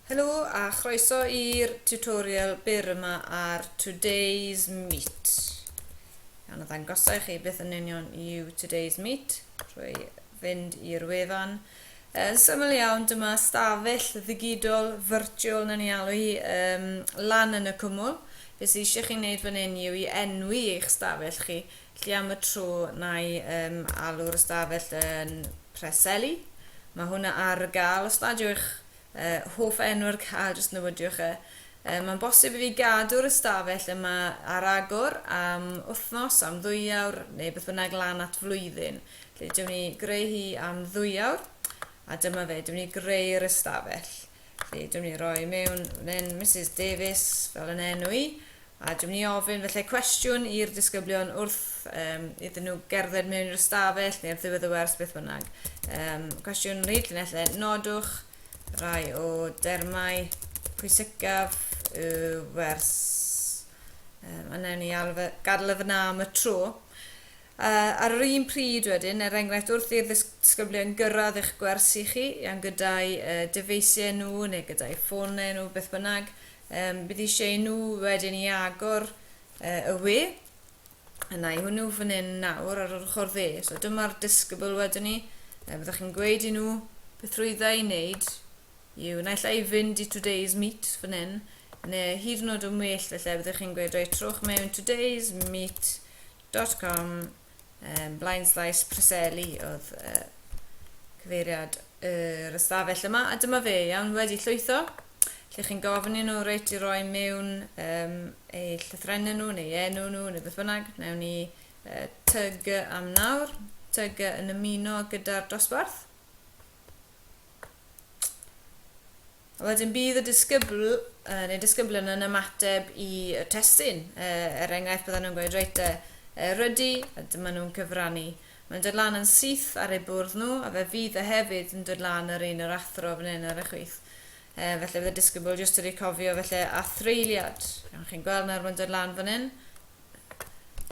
Helo a chroeso i'r tutorial byr yma ar Today's Meet. Iawn, a ddangosau chi beth yn union yw Today's Meet drwy fynd i'r wefan. Yn syml iawn, dyma stafell ddigidol virtual na ni alw hi um, lan yn y cwmwl. Beth sydd eisiau chi wneud fan hyn yw i enwi eich stafell chi Felly am y tro, na i um, alw'r ystafell yn Preseli. Mae hwnna ar gael, os nad yw'ch uh, hoff enw ar gael, jyst newidiwch e. Uh, Mae'n bosib i fi gadw'r ystafell yma ar agor am wythnos, am ddwyawr, neu beth bynnag lan at flwyddyn. Felly, dyw'n ni greu hi am ddwyawr, a dyma fe, dyw'n ni greu'r ystafell. Felly, dyw'n ni roi mewn fan hyn, Mrs Davies, fel yn enw i, A dwi'n mynd i ofyn felly cwestiwn i'r disgyblion wrth um, iddyn nhw gerdded mewn i'r ystafell neu'r ddiwedd y wers, beth bynnag. Um, cwestiwn rhyd llinellau, nodwch rai o dermau pwysicaf y wers. Um, a newn ni gadael y fyna am y tro. Uh, ar yr un pryd wedyn, er enghraifft wrth i'r ddisgyblion gyrraedd eich gwersi chi, iawn gyda'i uh, dyfeisiau nhw neu gyda'i ffonau nhw, beth bynnag, Yym, bydd eisiau i nhw wedyn i agor uh, y we. Yna i hwnnw fan hyn nawr ar yr ochr dde. So dyma'r discable wedyn ni. Uh, byddwch chi'n gweud i nhw beth rwyddau i wneud yw naill ai fynd i today's meet fan hyn, neu hyd yn oed yn well felly byddwch chi'n gweud reit trwch mewn today's meet.com Yym, Blaen Slais Preseli oedd uh, cyfeiriad yr ystafell yma, a dyma fe, iawn, wedi llwytho. Lle chi'n gofyn i nhw reit i roi mewn um, eu llythrennau nhw, neu enw nhw, neu beth bynnag. Newn ni uh, tyg am nawr, tyg yn ymuno gyda'r dosbarth. Wedyn bydd y disgybl, uh, neu disgyblion yn ymateb i y testun. Uh, er enghraifft, bydden nhw'n gweud, reit, uh, rydy, a dyma nhw'n cyfrannu. Mae'n dod lan yn syth ar eu bwrdd nhw, a fe fydd y hefyd yn dod lan yr un yr athro fan hyn ar y chwith. Uh, felly bydd y disgybl jyst wedi cofio felly a threiliad. Chi'n gweld nawr mae'n dod lan fan hyn.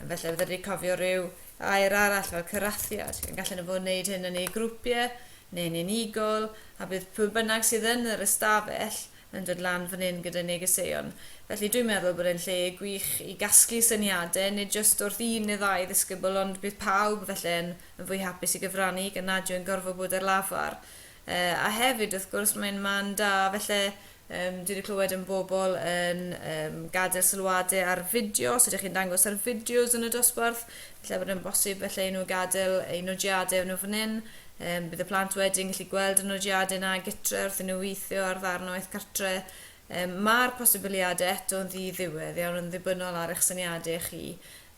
Felly, fydden ni'n cofio rhyw air arall fel cyrathiad. Yn gallen nhw fod yn gwneud hyn yn eu grwpiau neu'n unigol, a bydd pwy bynnag sydd yn yr ystafell yn dod lan fan hyn gyda negeseuon. Felly dwi'n meddwl bod e'n lle gwych i gasglu syniadau, nid jyst wrth un neu ddau ddisgybl, ond bydd pawb felly yn fwy hapus i gyfrannu gan nad yw'n gorfod bod ar lafar. Yy a hefyd wrth gwrs mae'n man da felly yym dwi wedi clywed yn bobl yn yym gadael sylwade ar fideo os ydych chi'n dangos ar fideos yn y dosbarth felly bod yn bosib felly i nhw gadael eu nodiadau nhw fan hyn um, bydd y plant wedyn gallu gweld y nodiadau yna gytre wrth i nhw weithio ar ddarn o eith cartre um, mae'r posibiliadau eto'n ddi-ddiwedd iawn yn ddibynnol ar eich syniadau chi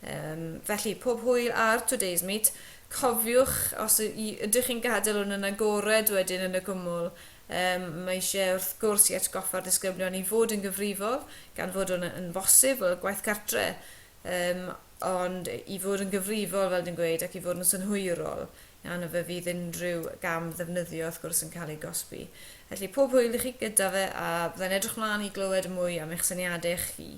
Yym, felly, pob hwyl ar Today's Meet. Cofiwch, os y- y- ydych chi'n gadael hwn yn agored wedyn yn y cwmwl, yym, mae eisiau wrth gwrs i atgoffa'r disgyblion i fod yn gyfrifol, gan fod hwn y- yn bosib, fel gwaith cartre, yym, ond i fod yn gyfrifol, fel dwi'n gweud, ac i fod yn synhwyrol, yna fe fydd unrhyw gam ddefnyddio, wrth gwrs, yn cael ei gosbi. Felly, pob hwyl i chi gyda fe, a byddai'n edrych mlaen i glywed mwy am eich syniadau chi.